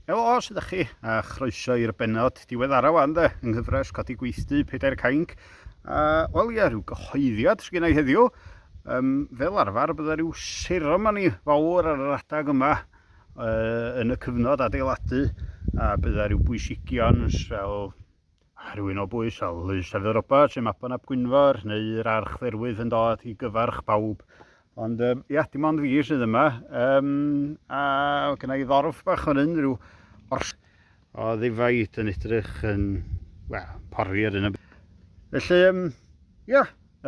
Helo, sydd â chi? A chroeso i'r benod diweddara wan de, yng nghyfres Codi Gweithdy, Pedair Cainc. A, wel ie, rhyw gyhoeddiad sy'n ei heddiw. Um, fel arfer, byddai rhyw seremoni fawr ar yr adag yma uh, yn y cyfnod adeiladu, a byddai rhyw bwysigion fel A rhywun o bwys fel Lys Dafydd Roberts neu Mabon ap Gwynfor neu yr Archdderwydd yn dod i gyfarch pawb. Ond um, ia, dim ond fi sydd yma. Um, a gyda i ddorf bach fan hyn, rhyw ors o ddifaid yn edrych yn, wel, pori ar hyn o Felly, um, ia,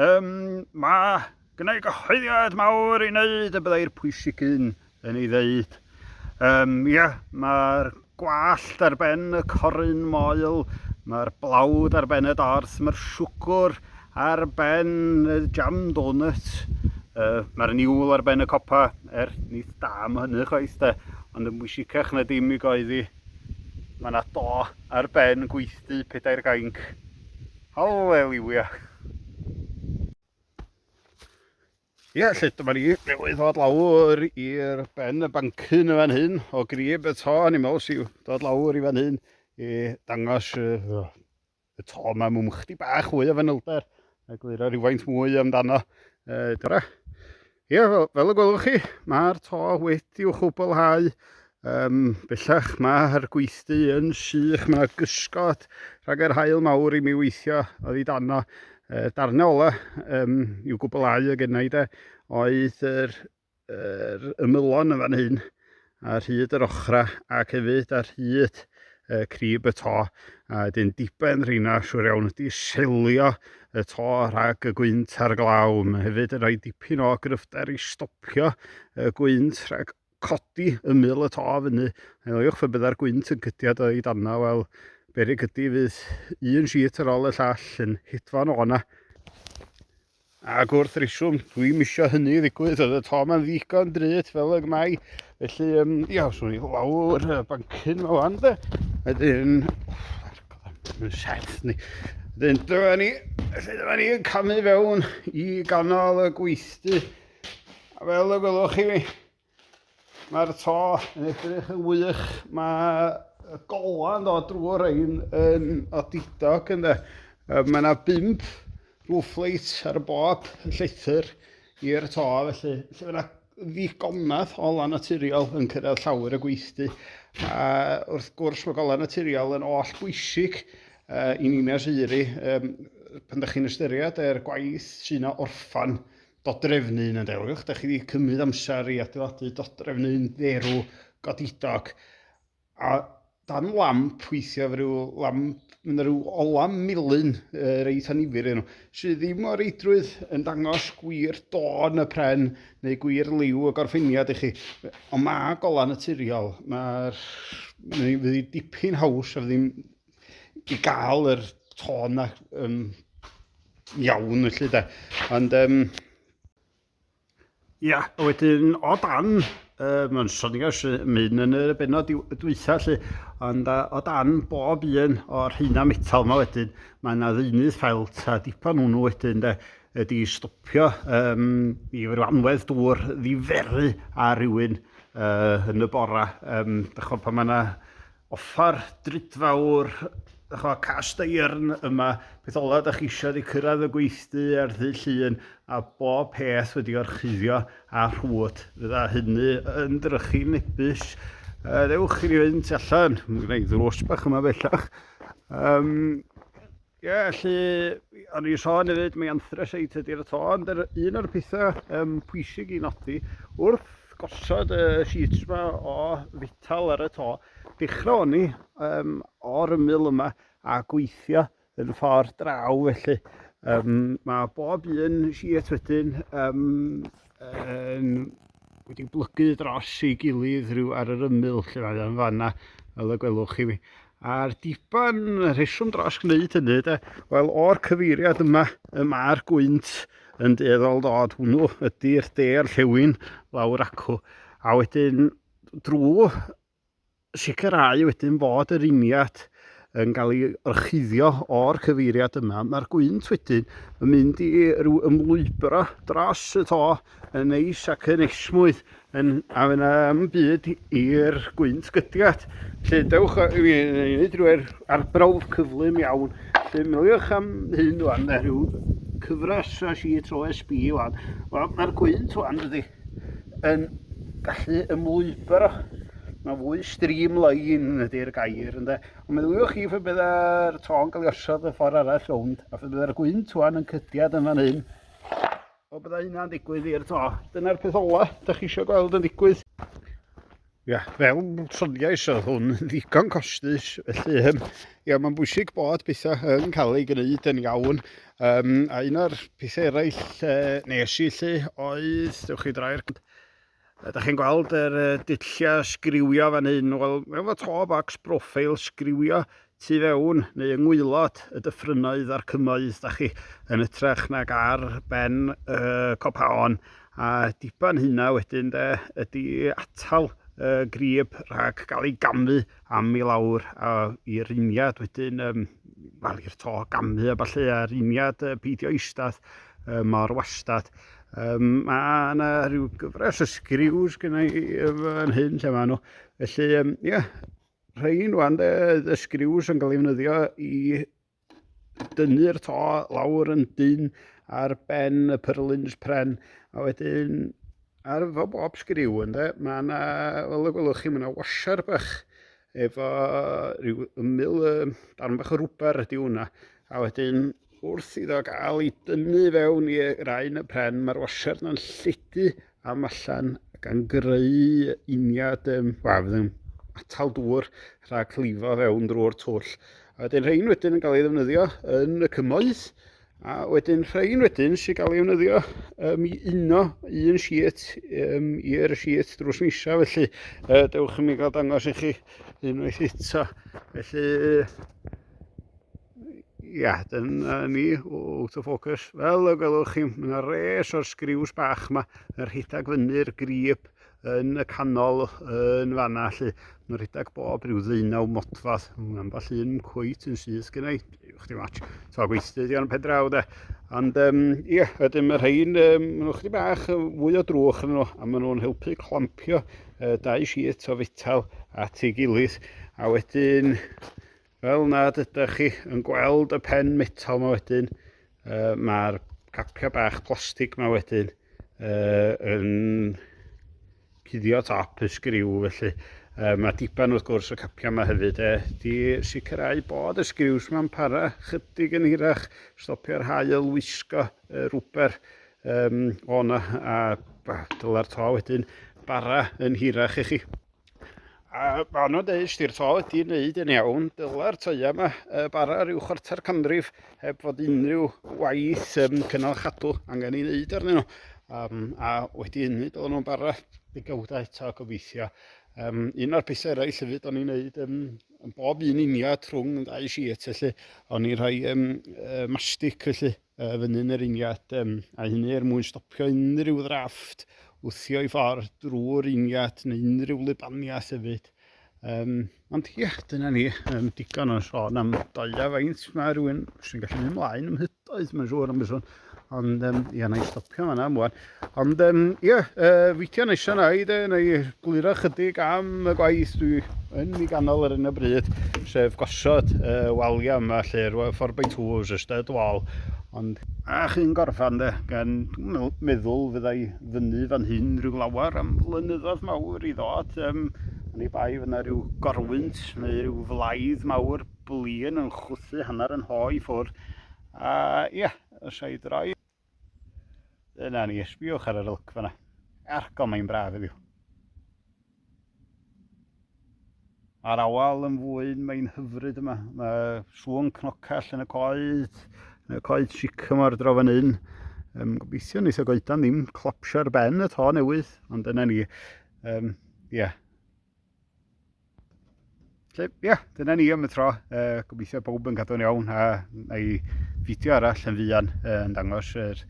um, mae gyda i gyhoeddiad mawr i wneud y byddai'r pwysig un yn ei ddeud. Um, ia, mae'r gwallt ar ben y corun moel, mae'r blawd ar ben y dors, mae'r siwgwr ar ben y jam donut, uh, mae'r niwl ar ben y copa, er nid da am hynny chwaith de, ond yn bwysicach na dim i goeddi. Mae yna do ar ben gweithdy pedair gainc. Halleluia! Ie, yeah, lle dyma ni newydd ddod lawr i'r ben y bancyn y fan hyn o grib y to. Ni'n meddwl sy'n dod lawr i fan hyn i dangos uh, y to yma mwyn chdi bach fwy o fanylder a gliro rhywfaint mwy amdano. Uh, Dora. Ie, yeah, fel, fel y gwelwch chi, mae'r to wedi i'w chwblhau Um, bellach mae'r gweithdy yn sych, mae yna gysgod rhag yr hael mawr i mi weithio oedd i dano. Uh, darnau ola um, i'w gwblhau y gennau de, oedd yr, yr ymylon yn fan hyn, a rhyd yr ochra ac hefyd ar hyd uh, crib y to. A dyn diben rheina, siwr iawn, wedi selio y to rhag y gwynt a'r glaw. Mae hefyd yn rhoi dipyn o gryfder i stopio y gwynt rhag codi ymyl y to fyny. Meddylwch fe byddai'r gwynt yn cytiad o'i danna, wel, berig ydy fydd un sheet ar ôl y llall yn hitfan o'na. Ac wrth reswm, dwi'n misio hynny ddigwydd, oedd y to ma'n ddigon drud fel y gmai. Felly, um, ia, os o'n i lawr y bancyn yma wan, de. Wedyn, mae'n set ni. Wedyn, dyma ni, felly dyma ni yn camu fewn i ganol y gweithdy. A fel y gwelwch chi, mae'r to yn edrych yn wych. Mae y gola yn dod drwy rhain yn odidog ynddo. Mae yna bimp roof light ar y bob llethr i'r to, felly, felly mae yna ddigonedd o lan naturiol yn cyrraedd llawer y gweithdy. A wrth gwrs mae golau naturiol yn oll bwysig uh, i Nina Siri um, pan ydych chi'n ystyried yr gwaith sy'n orffan Dodrefn un yn dewch, da chi wedi cymryd amser i adeiladu dodrefn un dderw godidog, a dan lamp weithio efo rhyw lamp, mae yna rhyw ola melyn uh, reit anifir yn nhw, sydd ddim o reidrwydd yn dangos gwir dôn y pren neu gwir liw y gorffeniad i chi. Ond mae golau naturiol, mae'r... mae wedi dipyn haws a ddim i gael yr tôn na um, iawn felly de. Ond um, ia, a wedyn o dan, um, yn sonigas mynd yn y benod dwytha lle, ond uh, o dan bob un o'r heina metal yma wedyn, mae yna ddeunydd ffelt a dipan hwnnw wedyn de, ydy stopio um, i ryw anwedd dŵr ddiferu a rhywun uh, yn y bora. Um, Dychol pan mae yna offer drudfawr chwa cast iron yma beth ola da chi eisiau di cyrraedd y gweithdy ar ddy llun a bob peth wedi orchuddio a rhwyd fydda hynny yn drychu nebus uh, ddewch i ni fynd allan mae gen i ddrws bach yma bellach um, Ie, felly, o'n i'n sôn hefyd, mae anthracite ydy'r to, ond yr, un o'r pethau um, pwysig i nodi, wrth gosod y sheets yma o fital ar y to, dechrau o'n i um, o'r ymyl yma a gweithio yn ffordd draw, felly um, mae bob un sheet wedyn um, yn wedi blygu dros ei gilydd rhyw ar yr ymyl lle mae o'n fanna fel y gwelwch chi a'r diban rheswm dros gwneud hynny de wel o'r cyfeiriad yma y mae'r gwynt yn dueddol dod hwnnw ydy'r de'r llewyn lawr acw a wedyn drwy sicrhau wedyn fod yr uniad yn cael ei orchuddio o'r cyfeiriad yma. Mae'r gwynt wedyn yn mynd i ryw ymlwybro dros y to yn neis ac yn esmwyth yn, a fyna am byd i'r gwynt gydiad. Lle dewch i wneud rhyw'r arbrawf cyflym iawn. Lle miliwch am hyn o'n rhyw cyfres o sheets OSB o'n. Wel, mae'r gwynt o'n dydy. yn gallu ymlwybr o. Mae'n fwy streamline yn ydy'r gair, ynde? Ond meddyliwch chi fe byddai'r tôn cael ei osod y ffordd arall rownd, a fe byddai'r gwynt tuan yn cydiad yn fan hyn, o byddai hynna'n digwydd i'r to. Dyna'r peth ola, da chi eisiau gweld yn digwydd. Ia, fel soniais oedd hwn yn ddigon costus, felly yym, ia, mae'n bwysig bod pethau yn cael ei gwneud yn iawn. Um, a un o'r pethau eraill e, nes i lle oedd, dewch chi drai'r... Da chi'n gweld yr uh, dulliau sgriwio fan hyn, wel, efo to box profile sgriwio tu fewn neu yng ngwaelod y dyffrynnoedd a'r cymoedd da chi, yn ytrach nag ar ben y copaon, a diben hynna wedyn de ydy atal y grib rhag cael ei gamu am i lawr a i riniad wedyn um, wel i'r to gamu a falle a riniad uh, peidio eistedd uh, mor wastad. Um, mae yna rhyw gyfres o sgriws gyda i yn hyn lle maen nhw. Felly, um, yeah, Rhain wan de, y sgriws yn cael ei ddefnyddio i dynnu'r to lawr yn dyn ar ben y pyrlins pren. A wedyn ar efo bob sgriw ynde, mae yna, fel y gwelwch chi, mae yna washer bach efo rhyw ymyl um, darn bach o rwber ydy hwnna. A wedyn wrth iddo gael ei dynnu fewn i rain y pren, mae'r washer yna'n lledu am allan gan greu uniad um, wel, yn atal dŵr rhag llifo fewn drwy'r twll. A wedyn rhain wedyn yn cael ei ddefnyddio yn y cymoedd, a wedyn rhain wedyn sy'n cael ei ddefnyddio um, i uno un siet um, i'r siet drws nisa, felly uh, dewch i mi gael dangos i chi unwaith eto. Felly, Ia, dyna ni, out of focus. Fel y gwelwch chi, mae yna res o'r sgriws bach yma yn rhedeg fyny'r grib yn y canol yn fanna lle. Mae'n rhedeg bob rhyw ddeunaw modfadd. Mae ambell un cwyt yn syth gen i. Chdi match. So gweithdy di o'n pedraw de. Ond um, ia, ydym yr rhain, um, maen nhw chdi bach fwy o drwch yn nhw a maen nhw'n helpu clampio uh, dau siet o fetal at ei gilydd. A wedyn Fel nad ydych chi yn gweld y pen metal yma wedyn, uh, mae'r capiau bach plastig yma wedyn uh, yn cuddio top y sgriw felly. Uh, mae diban wrth gwrs y capiau yma hefyd e, di sicrhau bod y sgriws yma'n para chydig yn hirach, stopio'r hael wisgo uh, rwber um, o'na a dyla'r to wedyn bara yn hirach i chi. A anodd deud os di'r to wedi wneud yn iawn, dyla'r toia yma y bara rhyw chwarter canrif heb fod unrhyw waith um, cynnal chadw angen ei wneud arnyn nhw. Um, a wedi hynny, dylen nhw'n bara degawdau eto gobeithio. Um, un o'r pethau eraill hefyd o'n i'n wneud um, yn bob un uniad trwng yn ddau siet felly, o'n i'n rhoi um, uh, mastic felly Yy, fy nyn yr ingat, um, a hynny er mwyn stopio unrhyw ddrafft wthio i ffordd drwy'r ingat neu unrhyw lubaniaeth hefyd. Um, ond ie, dyna ni, um, digon o'n sôn am doia faint mae rhywun sy'n gallu mynd ymlaen ymhydoedd, mae'n siŵr am y sôn. Ond um, ie, na i stopio yna am wan. Ond ie, um, yeah, uh, fideo nesio na i de, neu gliro chydig am y gwaith dwi yn mi ganol ar hyn o bryd, sef gosod uh, waliau yma lle'r 4x2 os ystod wal. Ond a chi'n gorffan de, gan meddwl fyddai fyny fan hyn rhyw lawer am flynyddoedd mawr i ddod. Um, ni bai fyna rhyw gorwynt neu rhyw flaidd mawr blin yn chwthu hanner yn hoi ffwrdd. A ia, os a'i droi Dyna ni, ysbiwch ar yr ylc fanna. Arco, mae'n braf heddiw. Mae'r awal yn fwyn, mae'n hyfryd yma. Mae sŵn cnocell yn y coed, yn y coed sycamore draw fan hyn. Um, gobeithio nes o goedan ddim clopsio'r ben y to newydd, ond dyna ni. Um, yeah. Ie, yeah, dyna ni am y tro. Uh, gobeithio bob yn gadw'n iawn a na i fideo arall yn fuan uh, yn dangos yr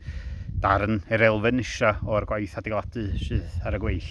darn, yr elfen nisa o'r gwaith adeiladu sydd ar y gweill.